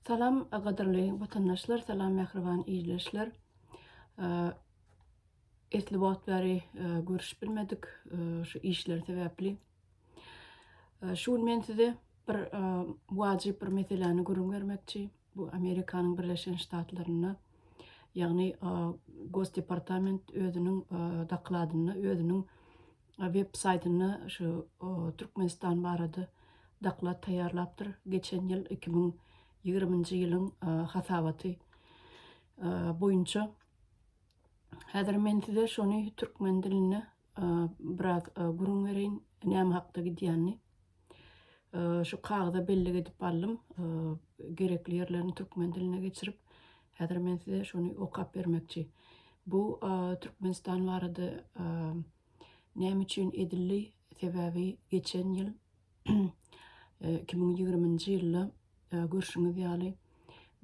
Salam gadyrly watandaşlar salam mähriban ildeşler esli wagt bäri görüşip bilmedik şu işler sebäpli şu gün men size bir wajyp bir meseläni gürrüň bermekçi bu Amerikanyň Birleşen Ştatlarynda ýagny gos departament özüniň dokladynda özüniň web saýtynda şu Türkmenistan barada doklad taýýarlapdyr. Geçen ýyl iki müň ýigriminji ýylyň hasabaty boýunça. Häzir men size şony türkmen dilinde biraz gürrüň bereýin, näme hakda gidýänini. Şu kagyza bellik edip aldym. Gerekli ýerlerini türkmen diline geçirip, häzir men size şony okap bermekçi. Bu Türkmenistan barada näme üçin edildi? Sebäbi geçen ýyl 2020-nji ýylda görşüňiz ýaly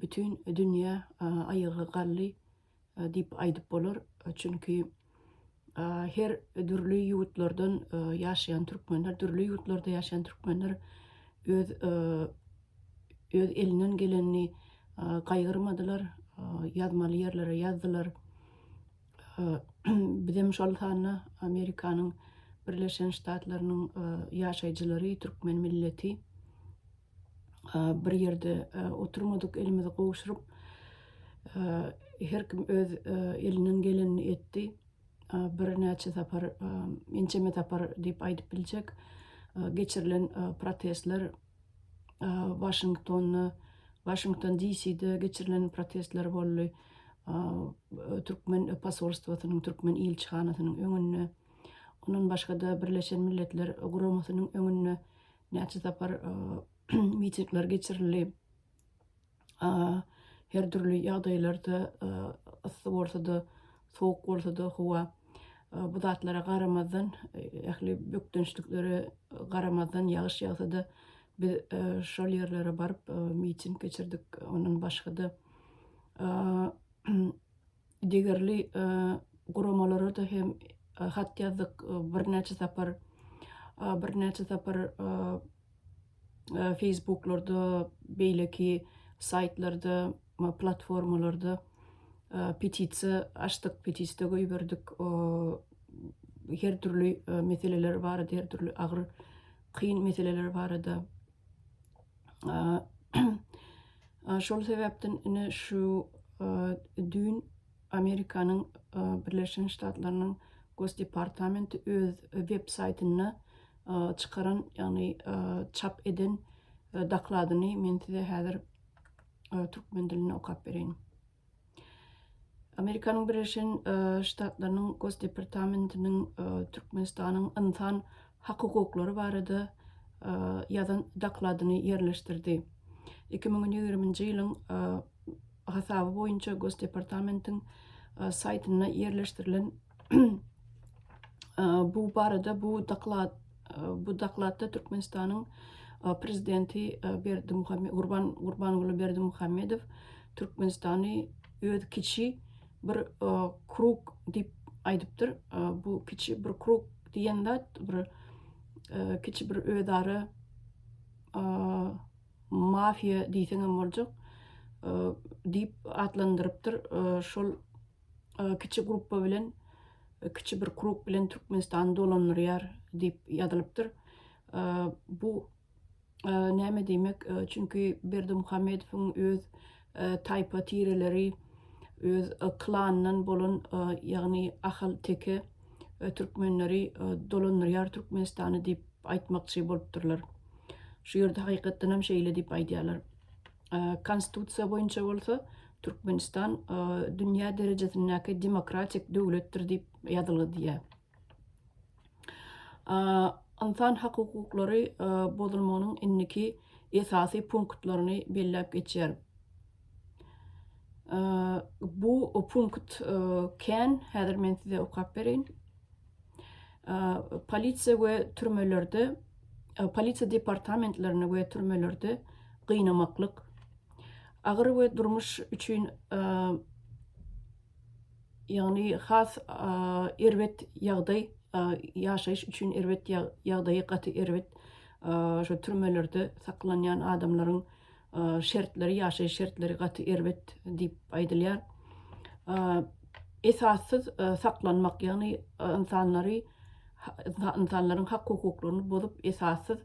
bütin dünýä aýaga galdy. diýip aýdyp bolar. Çünki her dürli ýurtlardan ýaşaýan türkmenler, dürli ýurtlarda ýaşaýan türkmenler öz öz elinden gelenini gaýgyrmadylar, ýazmaly ýerlere ýazdylar. Bizem şol sanda Amerikanyň Birleşen Ştatlarynyň ýaşaýjylary, türkmen milleti. bir ýerde oturmadyk, elimizi gowşuryp, her kim öz elinden gelenini etdi. Birnäçe sapar, ençeme sapar diýip aýdyp biljek, geçirilen protestler Waşingtonda, Washington DC-de geçirilen protestler boldy, türkmen posolstwosynyň, türkmen ilçihanasynyň öňünde, ondan başga-da Birleşen Milletler Guramasynyň öňünde näçe sapar mitingler geçirildi. Her dürli ýagdaýlarda yssy bolsa-da, sowuk bolsa-da howa bu zatlara garamazdan, ähli bökdençliklere garamazdan ýagyş ýagsa-da biz şol ýerlere baryp miting geçirdik. Ondan başga-da degerli guramalara-da hem hat ýazdyk, birnäçe sapar, birnäçe sapar feýsbuklarda, beýleki saýtlarda, platformalarda petisiýa açdyk, petisda goýberdik, her dürli meseleler barada, her dürli agyr, kyn meseleler barada. Şol sebäpden ine şu düýn Amerikanyň Birleşen Ştatlarynyň Gosdepartamenti öz web saýtynda çykaran, ýagny çap eden dokladyny men size häzir türkmen dilinde okap bereýin. Amerikanyň Birleşen Ştatlarynyň Gosdepartamentiniň Türkmenistanyň ynsan hak-hukuklary barada ýazan dokladyny ýerleşdirdi. Iki müň ýigriminji ýylyň hasaby boýunça Gosdepartamentiň saýtynda ýerleşdirilen Bu barada bu doklad bu dokladda Türkmenistanyň prezidenti Berdi Muhammedow Gurban Gurbanguly Berdi Muhammedow Türkmenistany öz kiçi bir krug diýip aýdypdyr. Bu kiçi bir krug diýen zat bir kiçi bir özara mafiýa diýseňem boljak diýip atlandyrypdyr. Şol kiçi gruppa bilen, kiçi bir krug bilen Türkmenistany dolandyrýar diýip ýazylypdyr. Bu näme diýmek? Çünki Berdimuhamedowyň öz taýpa tireleri, öz klanyndan bolan, ýagny Ahal Teke türkmenleri dolandyrýar Türkmenistany diýip aýtmakçy bolupdyrlar. Şu ýerde hakykatdan hem şeýle diýip aýdýarlar. Konstitusiýa boýunça bolsa Türkmenistan dünýä derejesindäki demokratik döwletdir diýip ýazylgy diýýär. Ynsan hak hukuklary bozulmagynyň indiki esasy punktlaryny belläp geçýär. Bu punkt kän, häzir men size okap bereýin. Polisiýa we türmelerde, polisiýa departamentlerinde we türmelerde gynamaklyk, agyr we durmuş üçin, ýagny has erbet ýagdaý, ýaşaýyş üçin erbet ýagdaýy gaty erbet, şo türmelerde saklanýan adamlaryň şertleri, ýaşaýyş şertleri gaty erbet diýip aýdylýar. Esassyz saklanmak, ýagny ynsanlary, ynsanlaryň hak-hukuklaryny bozup, esassyz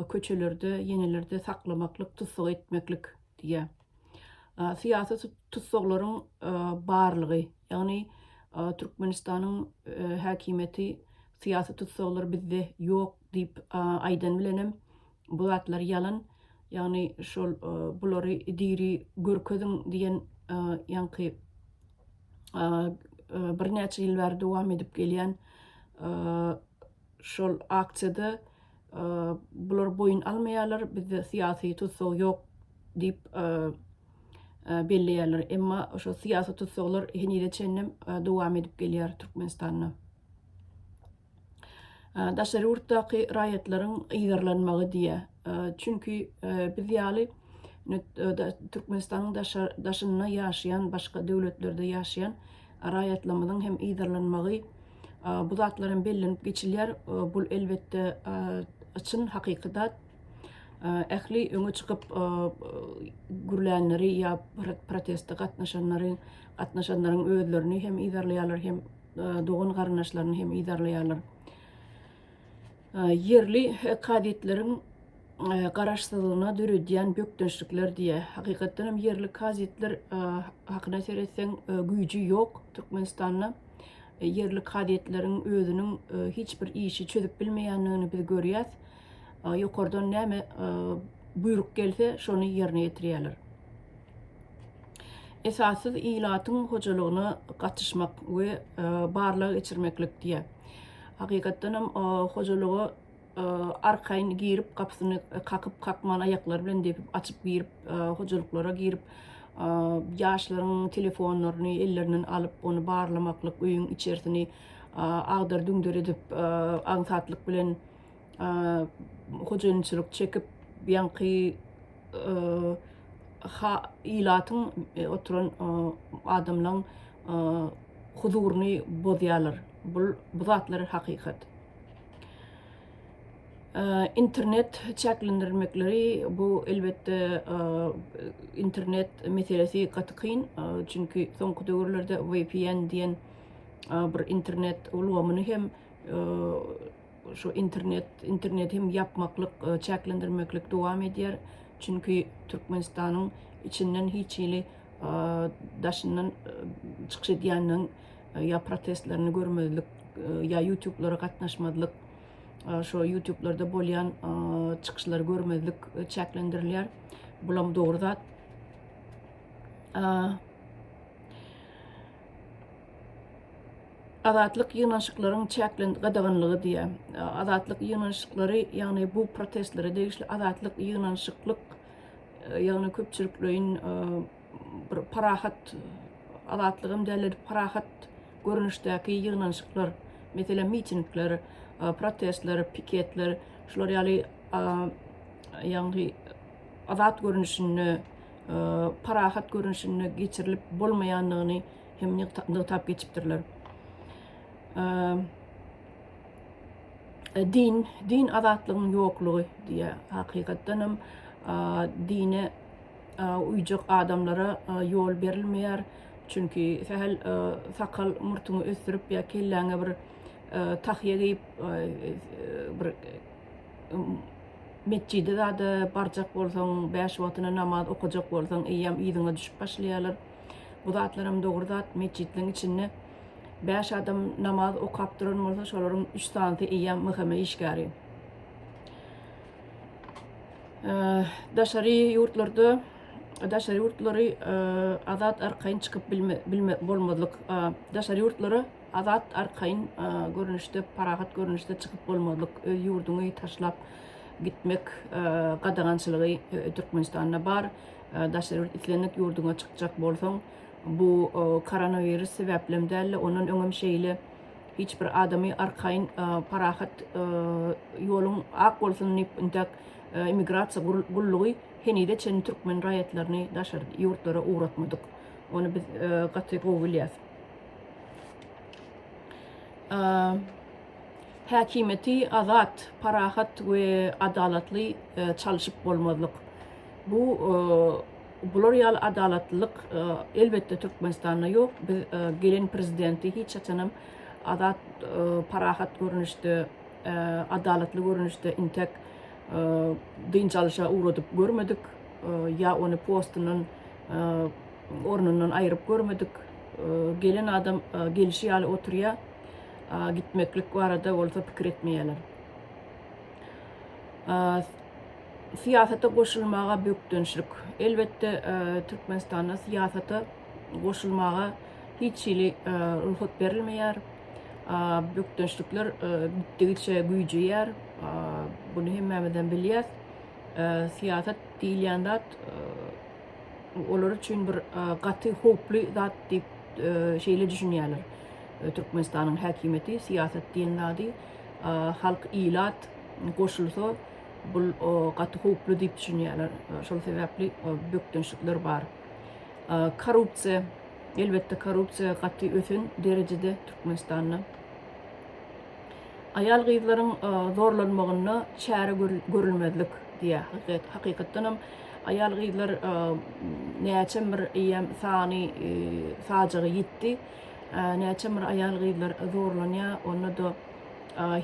köçelerde, ýenelerde saklamaklyk, tussag etmeklik diýýär. Syýasy tussaglaryň barlygy, ýagny Türkmenistanyň häkimiýeti syýasy tussaglar bizde ýok diýip aýdan bilenem, Bu zatlar ýalan, ýagny şol bulary diri görkeziň diýen ýaňky birnäçe ýyl bäri dowam edip gelýän şol aksiýada bular boýun almaýarlar, bizde syýasy tussag ýok diýip belleýärler. Emma şo syýasy tussaglar henize çenlem dowam edip gelýär Türkmenistanda. daşary ýurtdaky raýatlaryň yzarlanmagy diýýär. Çünki biz ýaly Türkmenistanyň daşynda ýaşaýan, başga döwletlerde ýaşaýan raýatlarymyzyň hem yzarlanmagy, bu zatlar hem bellenip geçilýär. Bu elbetde çyn hakyky zat. Ähli öňe çykyp gürlänleri ýa proteste gatnaşanlary, gatnaşanlaryň özlerini hem yzarlaýarlar, hem dogan-garyndaşlaryny hem yzarlaýarlar. Ýerli kazyýetleriň garaşsyzlygyna döredýän bökdençlikler diýe. Hakykatdan hem ýerli kazyýetler hakyna seretseň güýji ýok Türkmenistanda. Ýerli kazyýetleriň özüniň hiç bir işi çözüp bilmeýändigini biz görýäs. ýokardan näme buýruk gelse, şony ýerine ýetirýärler. Esassyz ilatyň hojalygyna gatyşmak we barlag geçirmeklik diýýär. Hakykatdan hem hojalyga arkaýyn girip, gapysyny kakyp, kakman aýaklary bilen depip, açyp girip, hojalyklara girip, ýaşlaryň telefonlaryny ellerinden alyp, ony barlamaklyk, öýüň içersini agdar-düňder edip, aňsatlyk bilen hojaýynçylyk çekip ýaňky ilatyň oturan adamlaň huzuryny bozýarlar. Bul bu zatlar hakykat. Internet çäklendirmekleri bu elbetde internet meselesi gaty kyn. Çünki soňky döwürlerde VPN diýen bir internet ulgamyny hem Şu internet, internet hem ýapmaklyk, e, çäklendirmeklik dowam edýär. Çünki Türkmenistanyň içinden hiç hili e, daşyndan e, çykyş edýänden ýa protestlerini görmezlik, ýa YouTube-lara gatnaşmazlyk, şu YouTube-larda bolýan çykyşlary görmezlik çäklendirilýär. Bulam dogry zat. Azatlyk ýygnanyşyklaryň çäklen gadaganlygy diýýär. E, azatlyk ýygnanyşyklary, ýagny bu protestlere degişli azatlyk ýygnanyşyklyk, e, ýagny köpçülikleýin e, bir parahat azatlygam däldir, parahat görnüşdäki ýygnanyşyklar, meselem mitingler, protestler, piketler, şular ýaly ýagny azat görnüşinde parahat görnüşinde geçirilip bolmaýandygyny hem nygtap geçipdirler. Din, din azatlygyň ýoklugy diýe hakykatdan hem dine uýjak adamlara ýol berilmeýär. Çünki sähel sakal murtuňy ösdürip ýa kelläňe bir tahýa geýip bir Metjide zada barjak bolsaň, bäş wagtyna namaz okajak bolsaň, eýýäm yzyňa düşüp başlaýarlar. Bu zatlaram dogry zat. Metjitleň içinde bäş adam namaz okap duran bolsa, şolaryň üç sanysy eýýäm MHM işgäri. Daşary ýurtlarda daşary ýurtlary azat arkaýyn çykyp bilme, bilme bolmazlyk. Daşary ýurtlara Azat arkaýyn görnüşde, parahat görnüşde çykyp bolmazlyk, öz ýurduňy taşlap gitmek gadagançylygy Türkmenistanda bar. Daşary ýurt islendik ýurduňa çykjak bolsaň, bu koronawirus sebäplem däl-de, ondan öňem şeýle hiç bir adamy arkaýyn parahat ýoluň ak bolsun diýip intäk immigrasiýa gullugy henize çenli türkmen raýatlaryny daşary ýurtlara ugratmadyk. Ony biz gaty gowy bilýäs. häkimiýeti azat, parahat we adalatly çalşyp bolmazlyk. Bu bular ýaly adalatlylyk elbetde Türkmenistanda ýok. Biz gelen prezidenti hiç haçanam azat, parahat görnüşde, adalatly görnüşde intek dynç alyşa ugradyp görmedik. Ýa ony postundan ornundan aýryp görmedik gelen adam gelişi ýaly oturýar. Gitmeklik barada bolsa pikir etmeýärler. Syýasata goşulmaga bökdençlik. Elbetde Türkmenistanda syýasata goşulmaga hiç hili ruhsat berilmeýär. Bökdençlikler gitdigiçe güýjeýär. Bunu hemmämizden bilýär. Syýasat diýilýän zat olar üçin bir gaty howply zat diýip şeýle düşünýärler. Türkmenistanyň häkimiýeti syýasat diýen zady halk ilat goşulsa bul gaty howply diýip düşünýärler. Şol sebäpli bökdençlikler bar. Korrupsiýa, elbetde korrupsiýa gaty ösen derejede Türkmenistanda. Aýal-gyzlaryň zorlanmagyna çäre görülmezlik diýýär. Hakykatdanam, aýal-gyzlar näçem bir eýýäm sany sajaga ýitdi. Näçem bir aýal-gyzlar zorlanýar, onda-da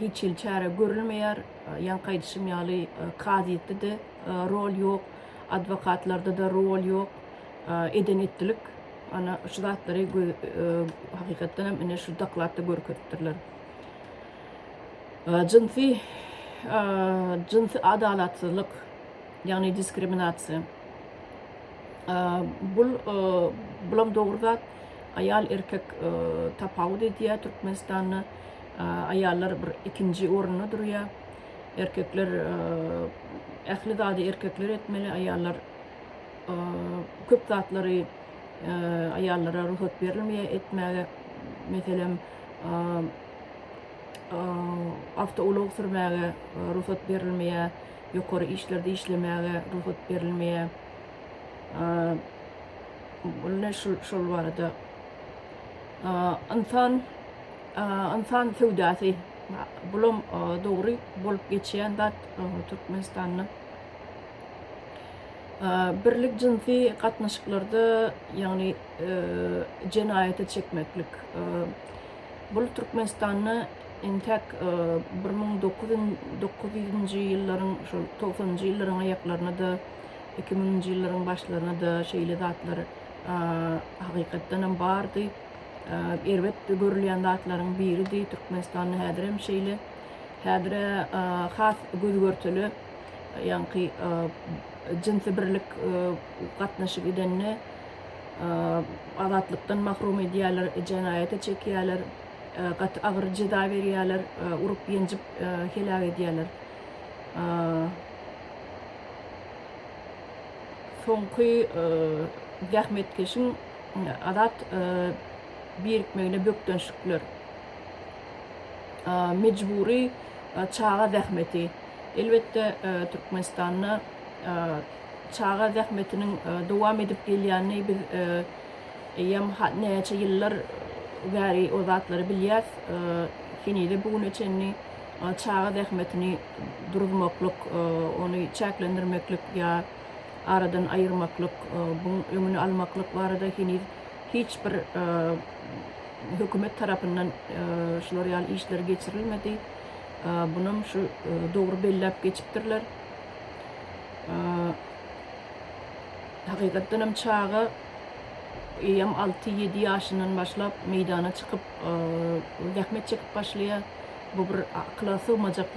hiç hili çäre görülmeýär. Ýaňky aýdyşym ýaly, kazyýetde-de rol ýok, adwokatlarda-da rol ýok, eden-etdilik. Ana şu zatlary hakykatdan hem ine şu dokladda görkezipdirler. Jynsy jynsy adalatsyzlyk, ýagny diskriminasiýa. Bul bulam dogry zat. Aýal erkek tapawut edýär Türkmenistanda. Aýallar bir ikinji orunda durýar. Erkekler ähli zady erkekler etmeli, aýallar Köp zatlary aýallara rugsat berilmeýär etmäge. Meselem, awtoulag sürmäge rugsat berilmeýär, ýokary işlerde işlemäge rugsat berilmeýär. Ine şul şol barada. Ynsan ynsan söwdasy bulam dogry bolup geçýän zat Türkmenistanda. Birlik jynsy gatnaşyklarda, ýagny jenaýata çekmeklik. Bul Türkmenistanda entäk bir müň dokuz ýüz ýyllaryň şol togsanynjy ýyllaryň aýaklaryna-da, iki müňünji ýyllaryň başlaryna-da şeýle zatlar hakykatdanam bardy. Erbet görülýän zatlaryň biridi. Türkmenistanda häzirem şeýle. Häzir-ä has göz-görtele. ýaňky jynsy birlik gatnaşyk edende azatlykdan mahrum edýärler, jenaýata çekýärler, gaty agyr jeza berýärler, urup-ýenjip heläk edýärler. Soňky zähmetkeşiň azat birikmegine bökdençlikler. mejbury çaga zähmeti. Elbetde, Türkmenistanda çaga zähmetiniň dowam edip gelýänini biz eýýäm näçe ýyllar bäri o zatlary bilýäs. Henize bu güne çenli çaga zähmetini duruzmaklyk, ony çäklendirmeklik ýa aradan aýyrmaklyk, buň öňüni almaklyk barada heniz hiç bir Hökümet tarapyndan şular ýaly işler geçirilmedi. Bunam şu dogry belläp geçipdirler. Hakykatdan hem çaga eýýäm 6-7 ýaşyndan başlap meýdana çykyp zähmet çekip başlaýar. Bu bir akyla sygmajak